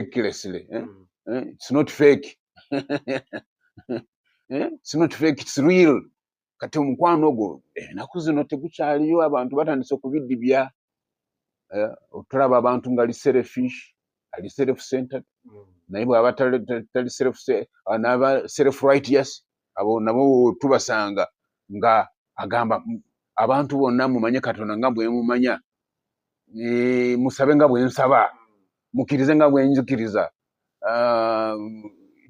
recklessly eh? mm. eh? it's not fake eh? it's not fake it's real kati omukwano ogwo enaku eh, zino tegukyaliyo abantu batandise okubidibya eh, otulaba abantu nga ali selfish ali self centered mm. naye bwaba tali self ah, naba self righteous abo nabo tubasanga nga agamba abantu bonna mumanye katonda nga bwemumanya eh, musabe nga bwensaba mukirize nga bwenjukiriza ah,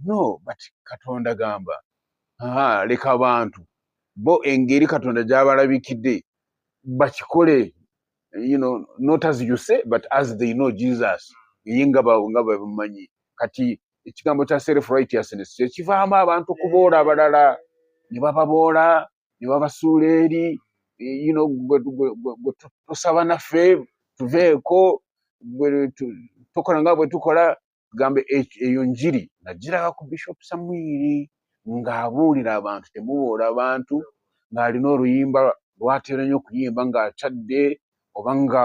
no but katonda gamba leka abantu bo engeri katonda gyabalabikidde bakikole you know, not as you say but as they know jesus ye nga bamumanyi kati ekigambo kya self righteousness kyekivaamu abantu okuboola abalala ne bababoola ne babasuula eri yino gwe tusaba naffe tuveeko tokola nga bwe tukola tugambe eyo njiri nagiraga ku bishop samwiri ng'abuulira abantu temubuula abantu ng'alina oluyimba lwatera nnyo okuyimba ng'atadde oba nga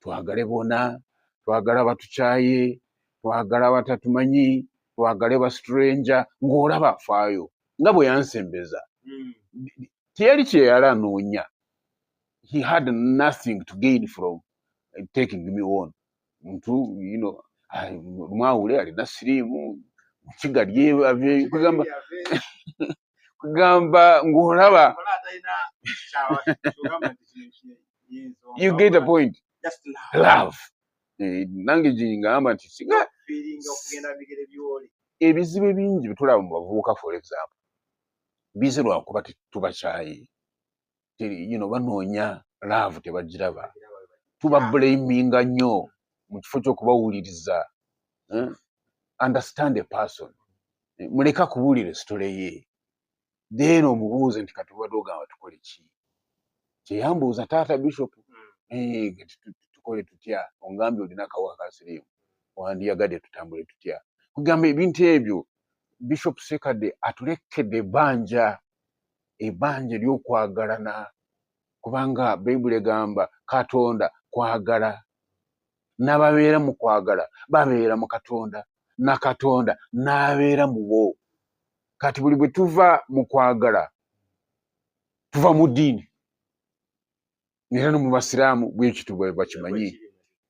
twagale bona twagala batukyaye twagala batatumanyi twagale ba stranger ng'olaba afaayo nga bwe yansembeza hmm. teyali kyeyala anoonya he had nothing to gain from eh, taking me on ntu you know mwawule alina siriimu mukigalye aveyo kugamba kugamba ng'olaba you get a point love eh, nange gyengamba nti singa ebizibu ebingi byetulaba mu bavubuka for example bize lwakuba tetubakyayi you know banoonya love tebagiraba tuba blaminga nnyo mu kifo ky'okubawuliriza eh? understand a person eh, muleka kubuulira esitole ye then omubuuze nti kati obadde ogamba tukole ki kyeyambuuza taata bishop hmm. eh, tukole tutya ongambye olina akawa kasirimu wandiyagadde tutambule tutya kugamba ebintu ebyo bishop sekade atulekedde ebbanja ebanja ly'okwagalana kubanga bayibuli egamba katonda kwagala n'ababeera mu kwagala babeera mu katonda na katonda n'abeera mu bo kati buli bwe tuva mu kwagala tuva mu ddiini era no mu basiraamu bwekityo bwe bakimanyi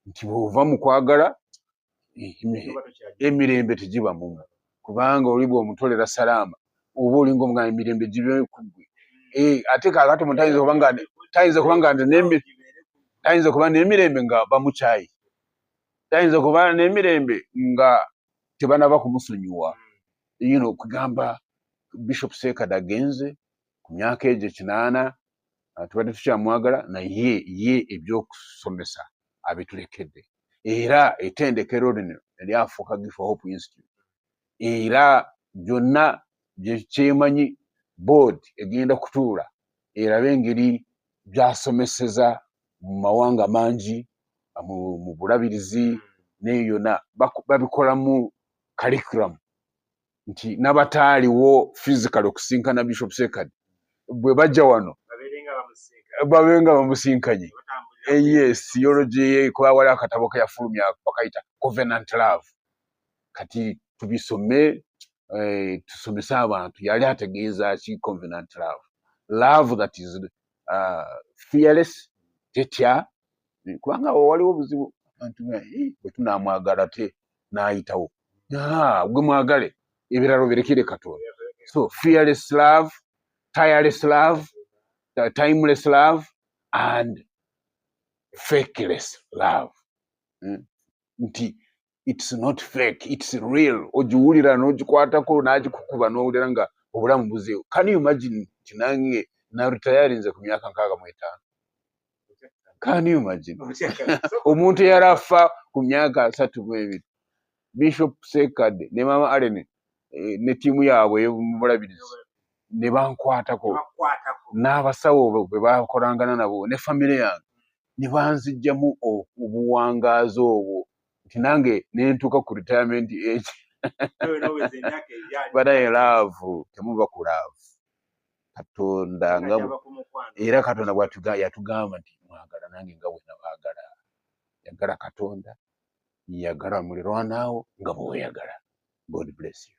nti bwova mu kwagala emirembe tegiba mumu kubanga oli bwomutolera salaama oba olinga omuga emirembe gibe kugwe eh, ate kakati mu tayinza kuba nga tayinza kuba nga tayinza kuba n'emirembe nga bamukyayi tayinza kuba n'emirembe nga tebanaba kumusonyiwa you know kugamba bishop sekad agenze ku myaka egyo kinaana ah, tubadde tukyamwagala naye ye ebyokusomesa abitulekedde era etendekero lino eryafuuka gifa hope institute era byonna kyemanyi board egenda kutuula erabe engeri byasomeseza mu mawanga mangi mu bulabirizi neyo yona babikolamu curriculum nti nabataaliwo physical okusinkana bishop sekad bwe bajja wano babenga bamusinkanye eh, yes yologyekwawala akatabo keyafulumya bakayita covenant love kati tubisome eh, tusomese abantu yali ategeeza ki covenant love love that is uh, fearless tetya kubanga waliwo obuzibu abantu eh, bwetunamwagala te n'ayitawo gwe mwagale ebirala obirekere katonda so fearless love tireless love timeless love and fakeless love hmm? nti it's not fake it's real ogiwulira n'ogikwatako n'agikukuba n'owulira nga obulamu buzeewo can you imagine nti nange naritayarinze ku myaka nkaaga mu etaano can you imagine omuntu eyali afa ku myaka asatu mu ebiri bishop sekade ne mama allen eh, ne tiimu yaabwe eyomubulabirizi ne bankwatako n'abasawo bwe bakolangana nabo ne famire yange ne banzijjamu obuwangaazi obwo nti nange nentuuka ku retirement age banaye laavu temuva ku laavu katonda nga era katonda bwatuga yatugamba nti mwagala nange nga wena bagala yagala katonda yagala mulirwanaawo nga bweweyagala god bless you